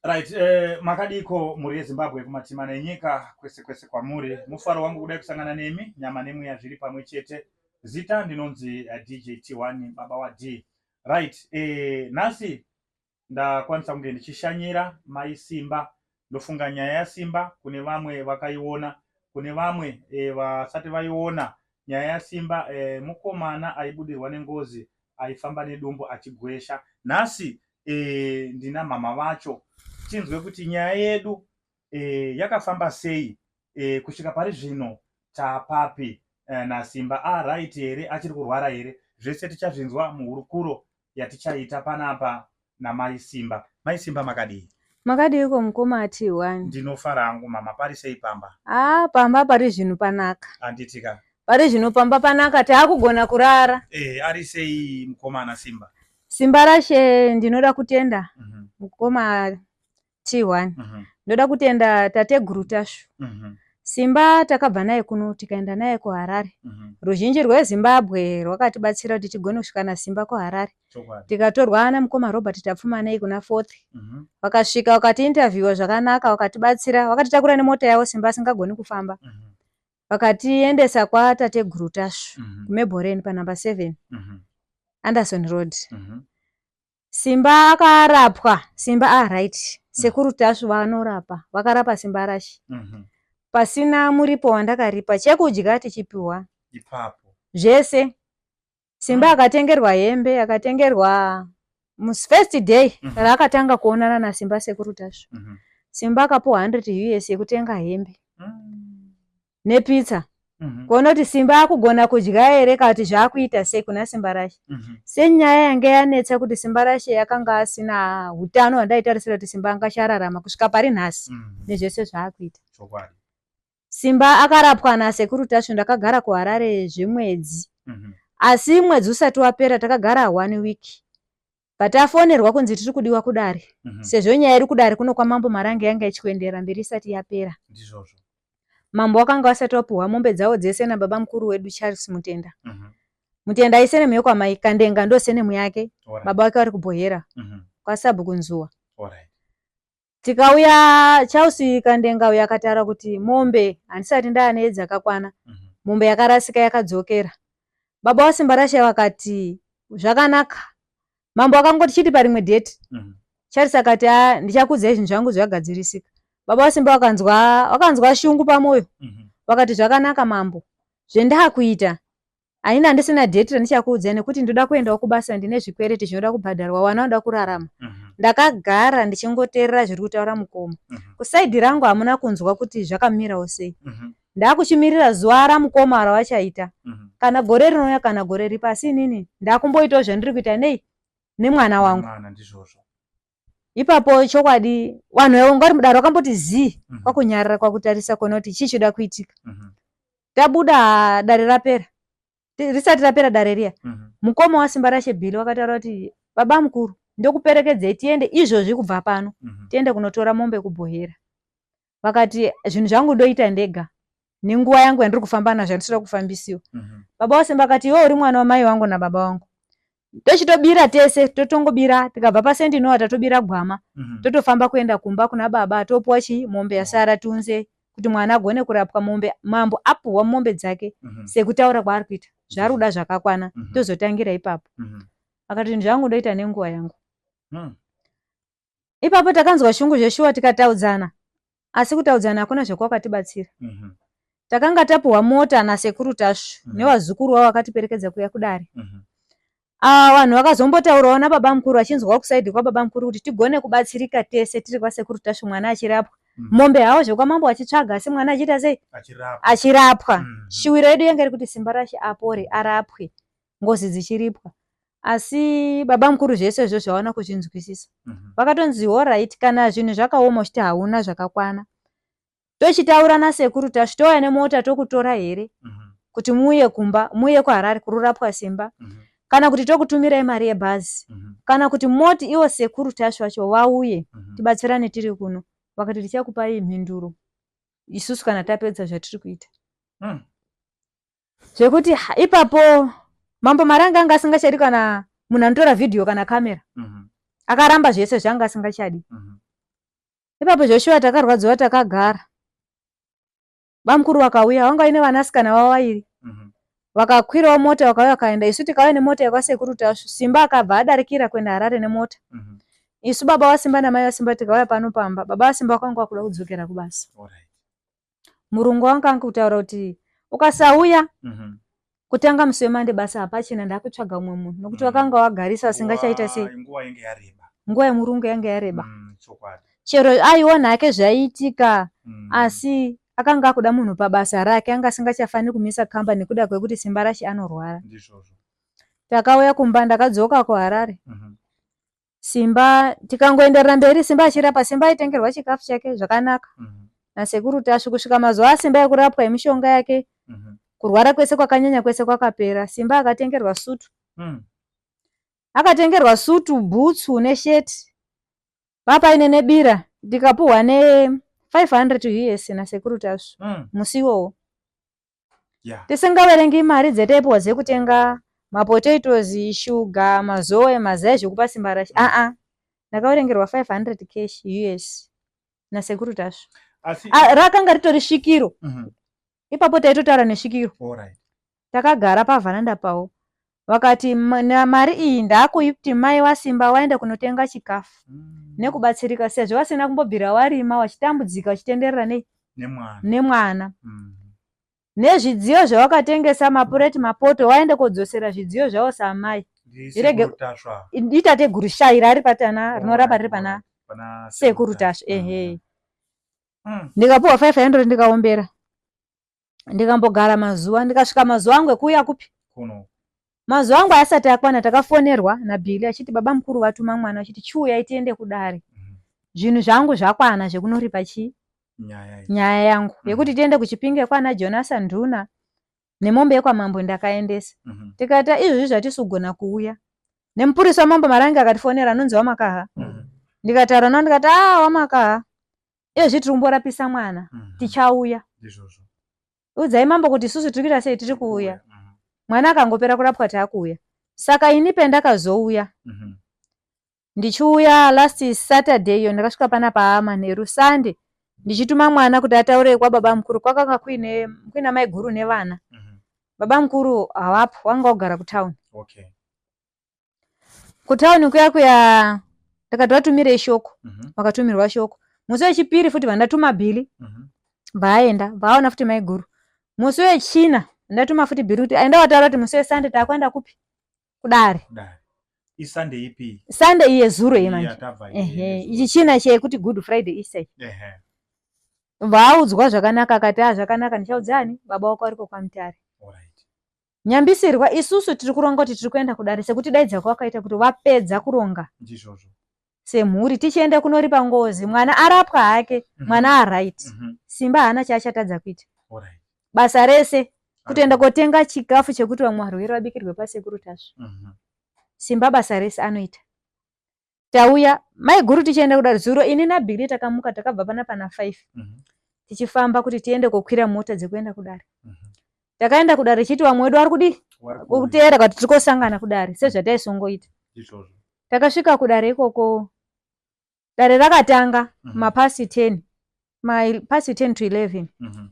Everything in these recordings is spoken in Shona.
Right, eh, makadiko mhuri yeZimbabwe kumatima nenyika kwese kwese kwamuri. Mufaro wangu kudai kusangana nemi, nyama nemweya zviri pamwe chete. Zita ndinonzi eh, DJ T1 baba wa D. Right, eh, nhasi ndakwanisa kunge ndichishanyira mai Simba. Ndofunga nyaya yaSimba kune vamwe vakaiona, kune vamwe eh, vasati vaiona nyaya yasimba eh, mukomana aibudirwa nengozi aifamba nedumbu achigwesha nhasi eh, ndina mama vacho tinzwe kuti nyaya yedu eh, yakafamba sei eh, kusvika pari zvino tapapi eh, nasimba aright ah, here achiri kurwara here zvese tichazvinzwa muhurukuro yatichaita panapa namai simba mai simba makadii makadiiko mukoma ati one ndinofara hangu mama pari sei pamba ah pamba pari zvinhu panaka handitika pari zvino pamba panaka taakugona kurara e, ari sei mukoma ana simba simba rashe ndinoda kutenda mm -hmm. mukoma T1 mhm. ndoda kutenda tateguru Tasvu mhm. Simba takabva naye kuno tikaenda naye kuHarare. Mhm. Ruzhinji rweZimbabwe rwakatibatsira kuti tigone kusvika naSimba kuHarare. Tikatorwa namukoma Robert Tapfumanei kuna Fourth. Vakasvika vakatiinterviewa zvakanaka, vakatibatsira, vakatitakura nemota yavo Simba asingagoni kufamba. Vakatiendesa kwatateguru Tasvu kuMeboreni panumber 7 Anderson Road. Simba akarapwa Simba ah right mm. sekuru Tasvu vanorapa vakarapa Simba rashi mm -hmm. pasina muripo wandakaripa chekudya tichipiwa ipapo zvese Simba mm. akatengerwa hembe akatengerwa first day mm -hmm. raakatanga kuonana naSimba sekuru Tasvu mm -hmm. Simba akapuwa 100 us yekutenga hembe mm. nepizza mhm. kuona kuti simba akugona kudya here kana kuti zvaakuita sei kuna simba rashe mhm. senyaya yange yanetsa kuti simba rashe yakanga asina utano hwandaitarisira kuti simba anga chararama kusvika pari nhasi mhm. nezvese zvaakuita simba akarapwa nasekuru tasvu ndakagara kuharare zvemwedzi asi mwedzi usati wapera takagara one week but afonerwa kunzi tiri kudiwa kudare mm -hmm. sezvo nyaya iri kudare kuno kwamambo marange yanga ichikuenderera mberi isati yapera ndizvozvo mambo wakanga wasati wapuhwa mombe dzawo dzese nababa mukuru wedu charles mutenda mm -hmm. mutenda aise nemwe yokwamai kandenga ndose nemwe yake right. baba wake vari kubhohera mm -hmm. kwasabhuku nzuwa right. tikauya chelsea kandenga uyo akataura kuti mombe handisati ndaane dzakakwana mhm. mombe yakarasika yakadzokera baba wasimbarasha vakati zvakanaka mambo akangoti chiti parimwe date mhm. charles akati a ah, ndichakudzai zvinhu zvangu zvagadzirisika baba wasimba wakanzwa wakanzwa shungu pamwoyo mhm. vakati zvakanaka mambo zvendakuita Anini handisina date randichakuudzai nekuti ndoda kuendawo kubasa ndine zvikwereti zvinoda kubhadharwa wana unoda kurarama. Mhm. Ndakagara ndichingoteerera zviri kutaura mukoma. Mhm. Kusaidi rangu hamuna kunzwa kuti zvakamirawo sei. Mhm. Ndakuchimirira zuva ramukoma rawachaita. Kana gore rinouya kana gore ripa asi inini ndakumboitawo zvandiri kuita nei nemwana wangu. ipapo chokwadi vanhu vaivo ngwari mudaro wakamboti zii mhm. kwakunyarara kwakutarisa kuona kuti chii choda kuitika mhm. tabuda dare rapera risati rapera dare riya mhm. mukoma wasimba rashe bhili wakataura kuti baba mukuru ndokuperekedzei tiende izvozvi kubva pano tiende kunotora mombe kubhohera vakati zvinhu zvangu ndoita ndega nenguva yangu yandiri kufamba nazvo yandisira kufambisiwa mhm. baba wasemba akati iwe uri mwana wamai wangu nababa wangu tochitobira tese totongobira tikabva pasendi inowa tatobira gwama mhm. totofamba kuenda kumba kuna baba topuwa chii mombe yasara tiunze kuti mwana agone kurapwa mombe mambo apuhwa mombe dzake mhm. sekutaura kwaari kuita zvaari kuda zvakakwana tozotangira ipapo akati zvinhu zvangu ndoita nenguva yangu hmm. ipapo takanzwa shungu zveshuwa tikataudzana asi kutaudzana hakuna zvekwakatibatsira mm -hmm. takanga tapuhwa mota nasekuru tasvu mm -hmm. newazukuru wavo vakatiperekedza kuya kudare mm -hmm. Ah, vanhu uh, vakazombotaurawo nababa mukuru vachinzwawo kusaidi kwababa mukuru kuti tigone kubatsirika tese tiri kwasekuru tashu mwana achirapwa mm. mombe hawo zvekwamambo achitsvaga asi mwana achiita sei achirapwa mm. shuwiro yedu yanga iri kuti simba rashe apore arapwe ngozi dzichiripwa asi baba mukuru zvese izvo zvaona kuzvinzwisisa mhm. vakatonzi horit kana zvinhu zvakaoma uchiti hauna zvakakwana tochitaura nasekuru tasvi touya nemota tokutora here mhm. kuti muuye kumba muuye kuharari kururapwa simba mhm. kana kuti tokutumirai mari yebhazi kana kuti moti ivo sekuru tasvi vacho vauye tibatsirane tiri kuno vakati tichakupai mhinduro isusu kana tapedza zvatiri kuita hmm. zvekuti ipapo mambo mari anga anga asingachadi kana munhu anotora vhidhiyo kana kamera mhm. akaramba zvese zvaanga asingachadi mhm. ipapo zveshuwa takarwadziwa takagara bamukuru vakauya vanga vaine vanasikana vavo vairi mhm. vakakwirawo mota vakauya vakaenda isu tikauya nemota yekwasekuru tasvu simba akabva adarikira kuenda harare nemota isu baba vasimba namai vasimba tikauya pano pamba baba vasimba vakanga vakuda kudzokera kubasa Alright. murungu wanga ange kutaura kuti ukasauya mhm. kutanga musi wemande basa hapachina ndakutsvaga umwe munhu nokuti mhm. wakanga wagarisa asingachaita sei nguva yemurungu yange yareba mm, chero aiona hake zvaiitika mm. asi akanga akuda munhu pabasa rake anga asingachafaniri kumisa kamba nekuda kwekuti simba rashe anorwara takauya kumba ndakadzoka kuharare mhm. Simba tikangoenderera mberi Simba achirapa Simba aitengerwa chikafu chake zvakanaka mm -hmm. nasekuru Tasvi kusvika mazuva aSimba yekurapwa yemishonga yake mm -hmm. kurwara kwese kwakanyanya kwese kwakapera Simba akatengerwa sutu mm. akatengerwa sutu bhutsu nesheti papaine nebira ndikapuhwa ne 500 us nasekuru Tasvi mm. musi iwowo yeah. tisingaverengi mari dzetaipiwa dzekutenga mapotatoes shuga mazoe mazai zvekupa simba rashe mm. aa ndakaverengerwa 500 cash us nasekuru tasvo ah, rakanga ritori svikiro mm -hmm. ipapo taitotaura nesvikiro takagara pavhananda pawo Vakati mari iyi ndakuiti mai wasimba waenda kunotenga chikafu mm. nekubatsirika sezvo vasina kumbobvira warima wachitambudzika uchitenderera nei nemwana, nemwana. Mm. nezvidziyo zvawakatengesa mapureti mapoto waende kodzosera zvidziyo zvawo samai irege itateguru shai rari patana rinorapa riri pana sekuru tasva ehe mm. ndikapuwa 500 ndikaombera ndikambogara mazuva ndikasvika mazuva angu ekuuya kupi kuno mazuva angu ayasati akwana takafonerwa nabhili achiti baba mukuru vatuma mwana achiti chiuyai tiende kudare mhm. zvinhu zvangu zvakwana zvekunoripa chii nyaya yangu mhm. yekuti tiende kuchipinge kwana jonasa nduna nemombe yekwamambo ndakaendesa mhm. tikaita izvozvi zvatisugona kuuya nemupurisa wamambo marange akatifonera anonzi wamakaha ndikataura nao ndikati a ah, wamakaha iye zviti rumborapisa mwana mhm. tichauya udzai mambo kuti isusu tiri kuita sei tiri kuuya mhm. mwana akangopera kurapwa taakuuya saka ini pendakazouya mhm. ndichiuya last saturday iyo ndakasvika pana paamanheru sunday ndichituma mwana kuti ataure kwababa mukuru kwakanga kuine kuina mai guru nevana baba mukuru havapo wanga wagara kutown okay. kutauni kuya kuya ndakati vatumirei shoko mhm. vakatumirwa shoko musi wechipiri futi vandatuma bhili mhm. vaaenda vaaona futi maiguru musi wechina ndatuma futi bhili kuti aenda wataura kuti musi wesande taakuenda kupi kudare isande ipi sande iye zuro ye manje ehe ichi china chekuti good friday isai ehe vaaudzwa zvakanaka akati a ah, zvakanaka ndichaudzani baba wako ariko kwamutare nyambisirwa isusu tiri kuronga kuti tiri kuenda kudare sekuti daidza kwawakaita kuti vapedza kuronga ndizvozvo semhuri tichienda kunoripa ngozi mwana arapwa hake mhm. mwana mm -hmm. aright mm -hmm. simba haana chaachatadza kuita right. basa rese kutoenda kotenga chikafu chekuti vamwe varwere vabikirwe pasekuru tasvu mm -hmm. simba basa rese anoita tauya maiguru tichienda kudare zuro ini nabhili takamuka takabva pana pana five mm -hmm. tichifamba kuti tiende kokwira mota dzekuenda kudare mm -hmm. takaenda kudare chiti vamwe wedu vari kudii kuteera kati tiri kosangana kudare sezvataisongoita takasvika kudare ikoko dare rakatanga mm -hmm. mapasi ten mapasi 10 to 11 mhm.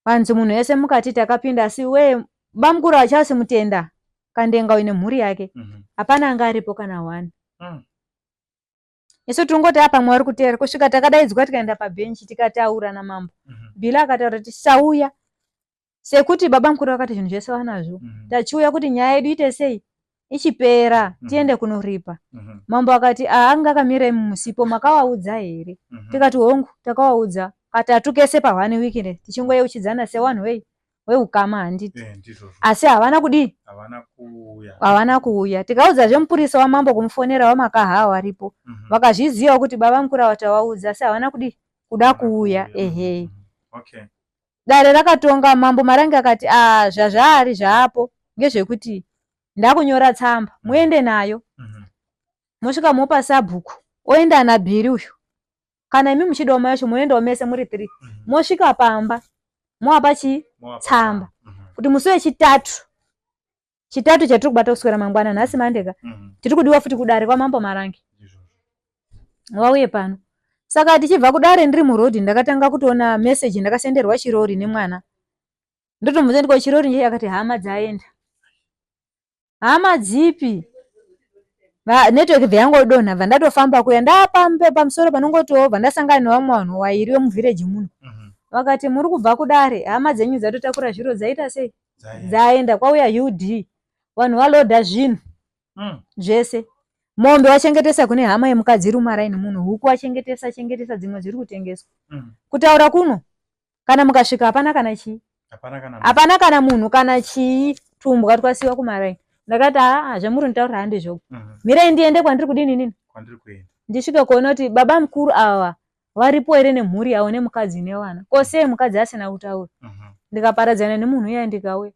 hanzi munhu wese mukati takapinda asi wee bamukuru hachasi mutenda kandenga uine mhuri yake mhm. hapana anga aripo kana one mm. isu tingoti apa mwari kuteera kusvika takadaidzwa tikaenda pabhenchi tikataura namambo mhm. bila akataura kuti tisauya sekuti baba mukuru vakati zvinhu zvese vanazvo mm. tachiuya kuti nyaya yedu ite sei ichipera mm -hmm. tiende kunoripa mm -hmm. mambo akati aanga akamira musipo makawaudza here mm -hmm. tikati hongu takawaudza katatu kese pahwani wiki ne tichingoyeuchidzana sewanhu wei weukama handiti eh, asi havana kudii havana kuuya tikaudza zvemupurisa wamambo kumufonera wamakahaa waripo mm -hmm. vakazvizivawo kuti baba mukura watawaudza asi havana kudii kuda kuuya ehe mm -hmm. okay. dare rakatonga mambo marange akati ah, zvazvaari zvaapo ngezvekuti ndakunyora tsamba mm. muende nayo mm-hmm. mosvika mopa sabhuku oenda ana bhiri uyu kana imi muchidawo mai yacho moendawo mese muri three mm-hmm. mosvika pamba moapa chii tsamba mm-hmm. kuti musi wechitatu chitatu chatiri kubata kuswera mangwana nhasi mandeka mhm. tiri kudiwa futi kudare kwamambo marange wauye pano saka tichibva kudare ndiri muroad ndakatanga kutoona message ndakasenderwa chirori nemwana ndotomudza ndiko chirori nje akati hama dzaenda hama dzipi network bva yangodonha bva ndatofamba kuya ndapambe pamusoro panongotiwo bva ndasangana nevamwe vanhu wairi vemuvhireji muno mhm. vakati muri kubva kudare hama dzenyu dzatotakura zviro dzaita sei dzaenda kwauya ud vanhu valoda zvinhu mm. zvese mombe wachengetesa kune hama yemukadzi iri mumaraini muno huku wachengetesa chengetesa dzimwe dziri kutengeswa mm. kutaura kuno kana mukasvika hapana kana chii hapana kana munhu kana chii tumbwa twasiwa kumaraini ndakati aa zvamuri nitaurira handi zvoku mm -hmm. mirai ndiende kwandiri kudini nini ndisvike kuona kuti baba mukuru awa varipo here nemhuri yavo nemukadzi nevana ko sei mukadzi asina kutaura mhm. ndikaparadzana nemunhu iya ndikauya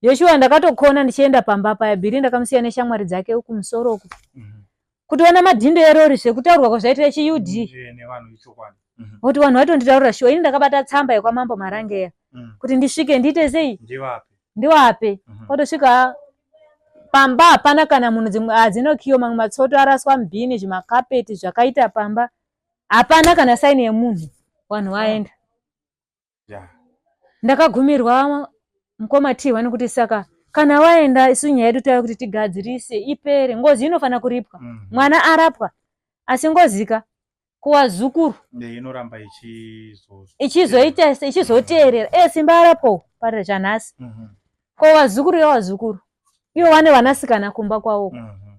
joshua ndakatokona ndichienda pamba paya bhiri ndakamusiya neshamwari dzake uku musoro uku mhm. kutiona madhindo erori zvekutaurwa kwazvaitira chiud mhm. kuti vanhu vaitonditaurira shuwa ini ndakabata tsamba yekwamambo marangeya kuti ndisvike ndiite sei ndiwape kwatosvika pamba hapana kana munhu dzimwe hadzinokiyo mamwe matsoto araswa mubhini zvimakapeti zvakaita pamba hapana kana saini yemunhu vanhu vaenda ndakagumirwa mukoma tihwa nekuti saka kana waenda isu nyaya yedu tava kuti tigadzirise ipere ngozi inofanira kuripwa mm. mwana arapwa asi ngozika kuwazukuru inoramba ichizoita ichizoteerera e simba arapwawo parira chanhasi mm -hmm. ko wazukuru yawazukuru ivo vane vanasikana kumba kwawoko mm -hmm.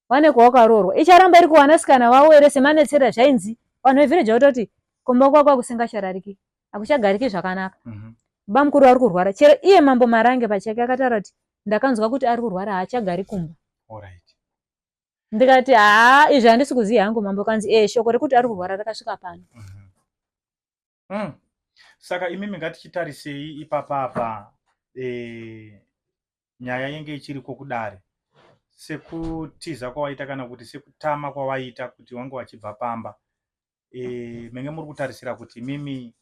vane kwawakaroorwa icharamba iri kuwanasikana vavo ere semanetsera zvainzi vanhu vevhireji vatoti kumba kwakwa kusingacharariki akuchagariki zvakanaka mhm. bamukuru vari kurwara chero iye mambo marange pachake akataura kuti ndakanzwa kuti ari kurwara haachagari kumba ndikati haa izvi handisi kuziva hangu mambo kanzi ee shoko rekuti ari kurwara rakasvika pano mhm. mm. saka imimi ngatichitarisei ipapa apa e, nyaya yenge ichiriko kudare sekutiza kwawaita kana kuti sekutama kwawaita kuti wange wachibva pamba e, menge muri kutarisira kuti imimi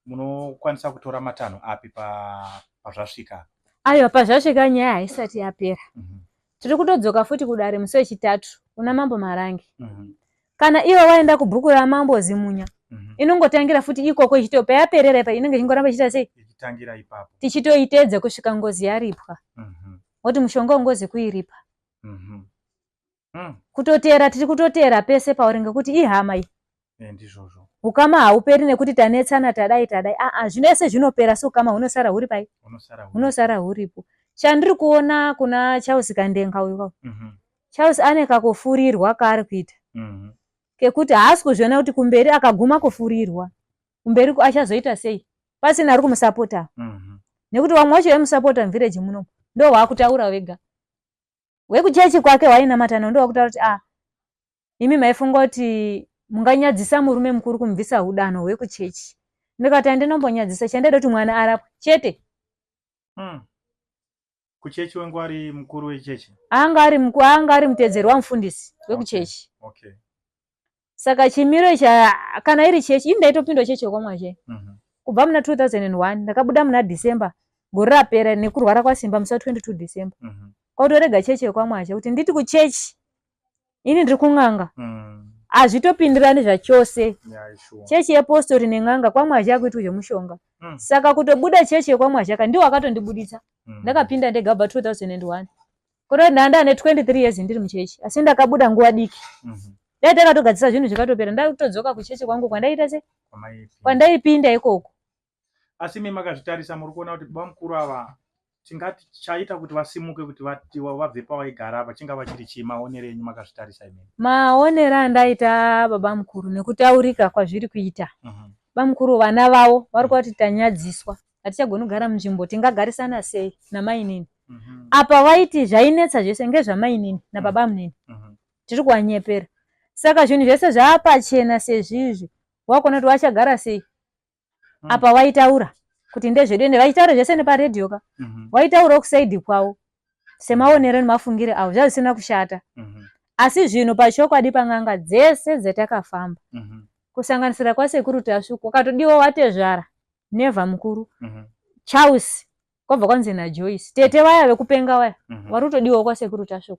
munokwanisa kutora matanho api pazvasvika pa aiwa pazvasvika nyaya haisati yapera mm -hmm. tiri kutodzoka futi kudare musi wechitatu kuna mambo marange mm -hmm. kana iwe waenda kubhuku ramambo zimunya mm -hmm. inongotangira futi ikoko ichito payaperera ipa inenge ichingoramba ichiita sei ichitangira ipapo tichitoitedza kusvika ngozi yaripwa mm -hmm. woti mushonga ungozi kuiripa mm -hmm. mm. kutoteera tiri kutoteera pese pauri ngekuti ihama iyi Eh, ndizvozvo ukama hauperi nekuti tanetsana tadai tadai aa zvino ese zvinopera so ukama hunosara huri pai hunosara huripo chandiri kuona kuna charles kandenga uyu kau mhm. charles ane kakufurirwa kaari kuita mhm. kekuti haasi kuzviona kuti kumberi akaguma kufurirwa kumberi achazoita sei pasina ari kumusapota mhm. nekuti vamwe wacho vaimusapota muvhireji muno ndo waakutaura vega wekuchechi kwake wainamatana ndo wakutaura kuti a ah, imi maifunga kuti munganyadzisa murume mukuru kumubvisa hudano hwekuchechi ndikati andinombonyadzisa chandaida kuti mwana arapwe chete hmm. kuchechi wangu ari mukuru wechechi anga ari mukuru anga ari mutedzeri wamufundisi wekuchechi okay. okay. saka chimiro cha kana iri chechi ini ndaitopindwa chechi yokwamwazhe mm -hmm. kubva muna 2001 ndakabuda muna december gore rapera nekurwara kwasimba musa 22 december mm -hmm. kwautorega chechi yokwamwazhe kuti nditi kuchechi ini ndiri kun'anga mm. hazvitopindirani zvachose chechi yepostori nen'anga kwamwazhi akuitwa zvemushonga mm. saka kutobuda chechi yekwamwazhi aka ndiwo akatondibuditsa mm. ndakapinda ndega bva 2001 kutoti ndanda ane 23 years ndiri muchechi asi ndakabuda nguva diki mm-hmm. dai takatogadzisa zvinhu zvikatopera ndaitodzoka kuchechi kwangu kwandaiita se kwandaipinda ikoko asi imi makazvitarisa muri kuona kuti baba mukuru ava tingati chaita kuti vasimuke kuti vatiwa vabve pavaigara apa chingava chiri chii maonero enyu makazvitarisa imimi maonero andaita baba mukuru nekutaurika kwazviri kuita uh mhm. -huh. bamukuru vana vavo vari kuva kuti tanyadziswa hatichagoni kugara munzvimbo tingagarisana sei namainini mm -hmm. apa vaiti zvainetsa zvese ngezvamainini nababa mhm. munini mm -hmm. tiri kuvanyepera saka zvinhu zvese zvaapachena sezvizvi wakuona kuti wachagara sei mm. apa waitaura kuti ndezvedu ende vaitaura zvese neparedhiyo ka mm -hmm. waitaura kusaidi kwavo semaonero nemafungire avo zvazvisina kushata mm -hmm. asi zvino pachokwadi pan'anga dzese dzatakafamba mm -hmm. kusanganisira kwasekuru tasvu kwakatodiwa watezvara nevha mukuru mm -hmm. charles kwabva kwanzi najoyce tete vaya vekupenga vaya mm -hmm. vari kutodiwa kwasekuru tasvu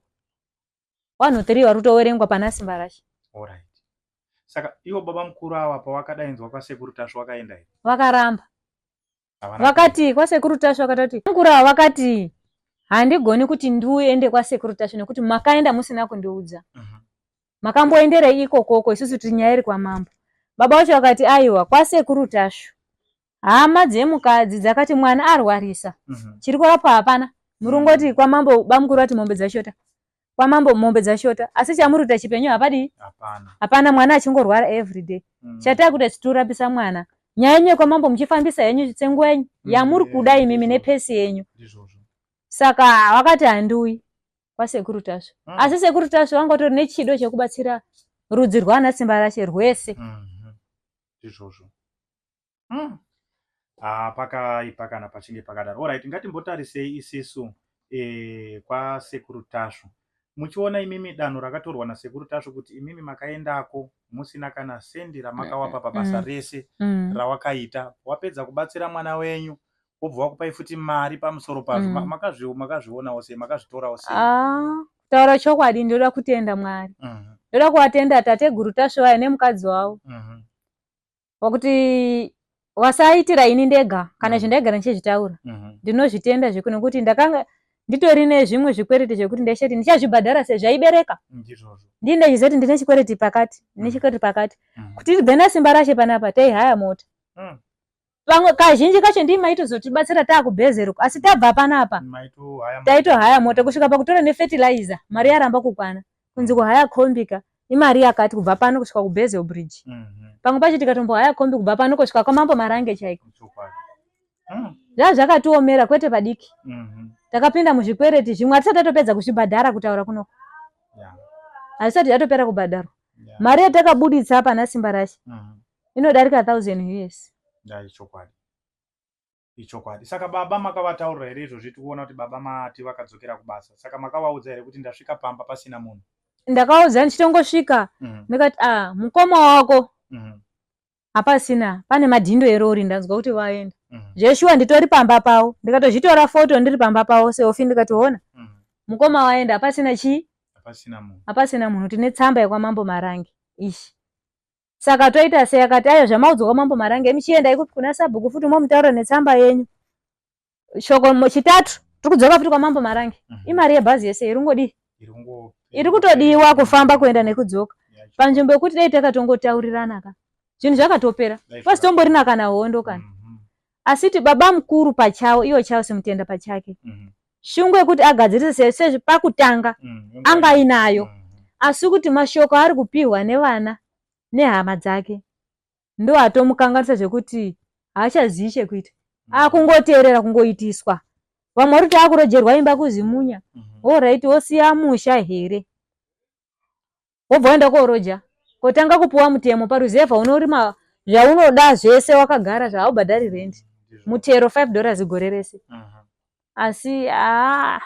wanhu three vari kutoverengwa pana simbarashe Alright. Saka ivo baba mukuru ava pavakadainzwa kwasekuru Tasvu vakaenda here? vakaramba Havana vakati kwasekuru tashu vakati kuti mukuru ava vakati handigoni kuti ndiuende kwasekuru tashu nekuti makaenda musina kundiudza kuenda. Mhm. makamboenderei ikokoko isusu tiri nyaya iri kwamambo baba vacho vakati aiwa kwasekuru tashu hama dzemukadzi dzakati mwana arwarisa mhm. chiri kurapwa hapana muri mhm. kungoti kwamambo bamukuru vati mombe dzashota kwamambo mombe dzashota asi chamuri kuita chipenyu hapadii hapana mwana achingorwara everyday mhm. chataa kuita chitorapisa mwana nyaya yenyu yekwamambo muchifambisa henyu tsenguva yenyu yamuri kuda imimi nepesi yenyu saka wakati handiuyi kwasekuru tasvu mm. asi sekuru tasvu vanga vatori nechido chekubatsira rudzi rwaana simba rashe rwese mm-hmm. izvozvo mm. ah, pakaipa kana pachinge pakadaro orit ngatimbotarisei isisu e, kwasekuru tasvu muchiona imimi danho rakatorwa nasekuru tasvu kuti imimi makaendako musina kana sendi ramakawapa pabasa mm. rese mm. rawakaita wapedza kubatsira mwana wenyu wobva wakupai futi mari pamusoro pazvo mm. makazvionawo sei makazvitorawo sei ah, taura chokwadi ndoda kutenda mwari mm -hmm ndoda kuvatenda tateguru tasvivaya nemukadzi wavo mm -hmm. wakuti wasaitira ini ndega kana mm. zvindaigara ndichizvitaura mm-hmm. ndinozvitenda zveku nekuti ndakanga nditori nezvimwe zvikwereti zvekuti ndaishati ndichazvibhadhara sezvaibereka ndii ndachizoti ndine chikwereti pakati ndine mm. chikwereti pakati mm. kuti tibve nasimba rashe panapa taihaya mota mm. pamwe kazhinji kacho ndii maitozotibatsira taakubhezeruko asi tabva panapa taitohaya mota kusvika pakutora nefetilizer mari yaramba kukwana kunzi kuhaya kombi ka imari yakati kubva pano kusvika kubezel bridge mhm. pamwe pacho tikatombohaya kombi kubva pano kusvika kwamambo marange chaiko hmm. zva zvakatiomera kwete padiki mhm. takapinda muzvikwereti zvimwe hatisati atopedza kuzvibhadhara kutaura kunoko hazvisati yatopera kubhadharwa mari yatakabuditsa pana simba rashe mhm. inodarika thousand us ichokwadi saka baba makavataurira here izvozvi tikuona kuti baba mati vakadzokera kubasa saka makavaudza here kuti ndasvika pamba pasina munhu ndakaudza ndichitongosvika mhm. ndikati mm -hmm. ah mukoma wako mm -hmm. hapasina pane madhindo erori ndanzwa kuti vaenda mm -hmm. zveshuwa nditori pamba pavo ndikatozvitora foto ndiri pamba pavo seofi ndikatoona mm -hmm. mukoma waenda hapasina chii hapasina munhu tine tsamba yekwamambo marangi ishi Saka toita sei? Akati, ayo zvamaudzwa kwamambo Marange, imi chiendai kupi kuna sabhuku futi momutaurira netsamba yenyu. Shoko mo- chitatu tiri kudzoka futi kwamambo Marange. Mhm. Imari yebhazi yese iri kungodii? Iri kungo- Iri kutodiwa kufamba kuenda nekudzoka. Yacho. Panzvimbo yekuti dai takatongotaurirana ka. Zvinhu zvakatopera. Dai First tombori nakana hondo kana. Mhm. asiti baba mukuru pachavo ivo chavo semutenda pachake mm. shungu yekuti agadzirise sezvi pakutanga mm. anga ainayo mm. asi kuti mashoko aari kupihwa nevana nehama dzake ndo atomukanganisa zvekuti haachazivi chekuita mm. akungoteerera kungoitiswa vamwe vari kuti akurojerwa imba kuzimunya mm -hmm. orit wosiya musha here wobva waenda kooroja kotanga kupuwa mutemo paruzevha unorima zvaunoda zvese wakagara zvahaubhadhari rent mutero 5 dollars gore rese mhm. asi haa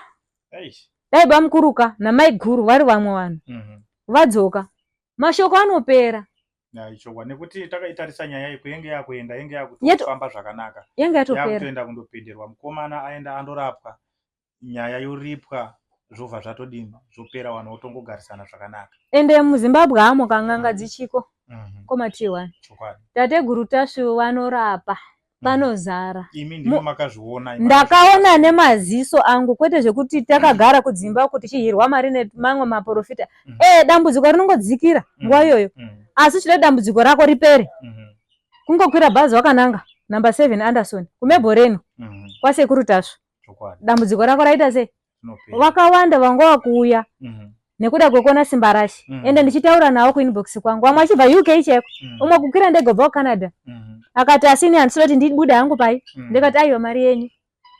dai bamukuruka namaiguru vari vamwe vanhu mhm. vadzoka mashoko anopera ichokwadi nekuti takaitarisa nyaya iyi kuyenge yakuenda yenge yakutofamba zvakanaka yenge yatoenda kundopenderwa mukomana aenda andorapwa nyaya yoripwa zvobva zvatodini zvopera vanhu votongogarisana zvakanaka ende muzimbabwe hamo kanganga mm-hmm. dzichiko mm-hmm. komatihi wani tateguru tasvu vanorapa mm-hmm. panozara ndakaona nemaziso angu kwete zvekuti takagara kudzimba uku tichihirwa mari nemamwe maprofita ee dambudziko rinongodzikira nguva iyoyo asi chida dambudziko rako ripere kungokwira bhazi wakananga number seven anderson kumebhoreno kwasekuru tasvu dambudziko rako raita sei vakawanda vanga vakuuya mhm. nekuda kwekuona simba rashe mhm. ende ndichitaura nawo kuinbox kwangu vamwe achibva uk cheko mhm. umwe kukwira ndege ubva kucanada akati asini handisi kuti ndibude hangu pai ndikati aiwa mari yenyu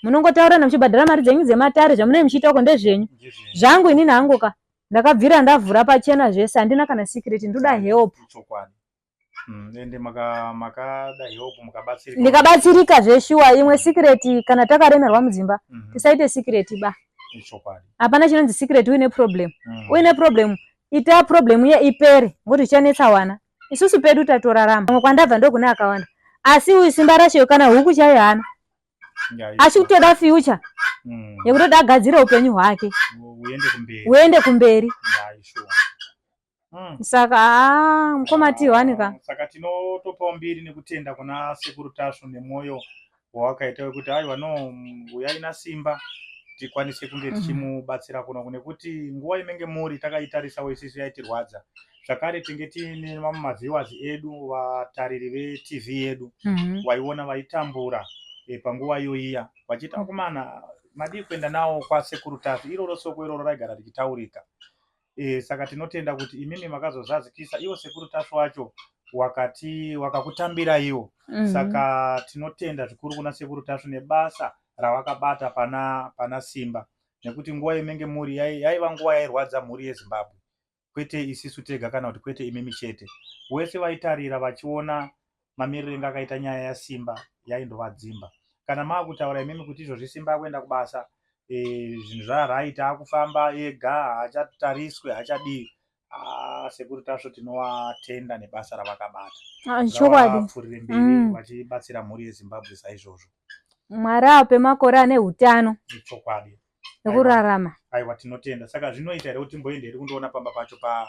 munongotaurana muchibhadhara mari dzenyu dzematare zvamunee muchiitako ndezvenyu zvangu inini hangu ka ndakabvira ndavhura pachena zvese handina kana secret ndoda help Mm, ende maka makada help mukabatsirika ndikabatsirika zveshuwa imwe secret kana takaremerwa mudzimba mhm. tisaite secret ba ichokwadi hapana chinonzi secret uine problem mm. uine problem ita problem iye ipere ngokuti ichanetsa wana isusu pedu tatorarama amwe kwandabva ndokune akawanda asi uyu simba rasheyo kana huku chaiyo hana asi kutoda future mm. yekutoda agadzire upenyu hwake uende kumberi Mm. Saka ah mkoma Tihwani ka. Saka tinotopawo mbiri nekutenda kuna Sekuru Tasvu nemoyo wawakaita wekuti aiwa no uyai nasimba tikwanise kunge mm. tichimubatsira kuno nekuti nguva inenge muri takaitarisa isisu yaitirwadza zvakare tinge tiine vamwe maviewers edu vatariri vetv yedu mm -hmm. vaiona vaitambura e, panguva iyoiya vachiti akomana madii kuenda nawo kwasekuru Tasvu iroro soko iroro raigara richitaurika E, saka tinotenda kuti imimi makazozadzikisa iwo sekuru tasvu wacho wakati wakakutambira iwo mm -hmm. saka tinotenda zvikuru kuna sekuru tasvu nebasa rawakabata pana pana simba nekuti nguva yemenge mhuri yaiva nguva yairwadza mhuri yezimbabwe kwete isisu tega kana kuti kwete imimi chete wese vaitarira vachiona mamiriro inga akaita nyaya yasimba yaindova dzimba kana maakutaura imimi kuti izvozvi simba akuenda kubasa e, zvinhu zvaaraita akufamba ega haachatariswe haachadii ah, sekuru tasvo tinowatenda nebasa ravakabata ah, chokwadi mberi mm. vachibatsira mhuri yezimbabwe saizvozvo mwari ape makore ane utano chokwadi nekurarama aiwa tinotenda saka zvinoita here kuti mboende here kundoona pamba pacho pa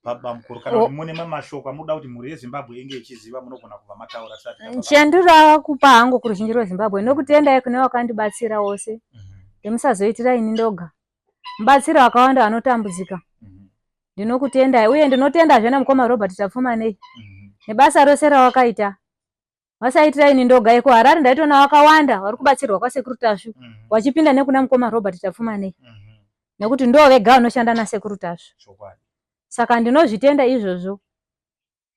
pabamukuru kana kuti mune mamashoko amunoda kuti mhuri yezimbabwe inge ichiziva munogona kubva mataura chandinoda kupa hangu kuruzhinji rwezimbabwe nokutendai kune wakandibatsira wose mhm. ndimusazoitira ini ndoga mubatsira wakawanda vanotambudzika mhm. ndinokutendai uye ndinotendazve namukoma robert tapfumanei mhm. nebasa rose rawakaita vasaitira ini ndoga iko harare ndaitoona vakawanda vari kubatsirwa kwasekuru tasvu mm -hmm. wachipinda nekuna mukoma robert tapfumanei mm -hmm. nekuti ndo vega vanoshanda nasekuru tasvu saka ndinozvitenda izvozvo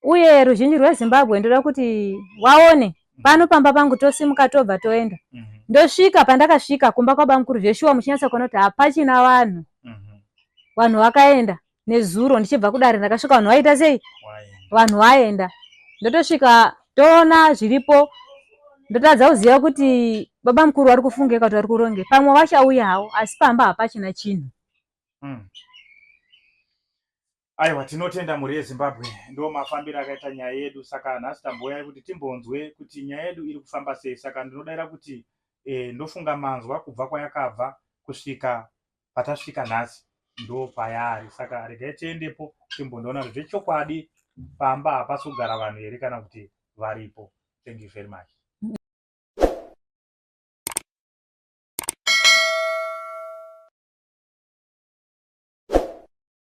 uye ruzhinji rwezimbabwe ndoda kuti waone mhm. pano pamba pangu tosimuka tobva toenda mm -hmm. ndosvika pandakasvika kumba kwabamukuru zveshuwa muchinyatsa kuona kuti hapachina vanhu mm -hmm. vanhu vakaenda nezuro ndichibva kudare ndakasvika vanhu vaita sei vanhu vaenda ndotosvika toona zviripo ndotadza kuziva kuti baba mukuru vari kufungei kuti vari kuronge pamwe vachauya havo asi pamba hapachina chinhu hmm. aiwa tinotenda mhuri yezimbabwe ndo mafambiro akaita nyaya yedu saka nhasi tamboyai kuti timbonzwe kuti nyaya yedu iri kufamba sei saka ndinodaira kuti e, ndofunga manzwa kubva kwayakabva kusvika patasvika nhasi ndo payaari saka regai tiendepo timbondoona kuti zvechokwadi pamba hapasi kugara vanhu here kana kuti varipo thank you very much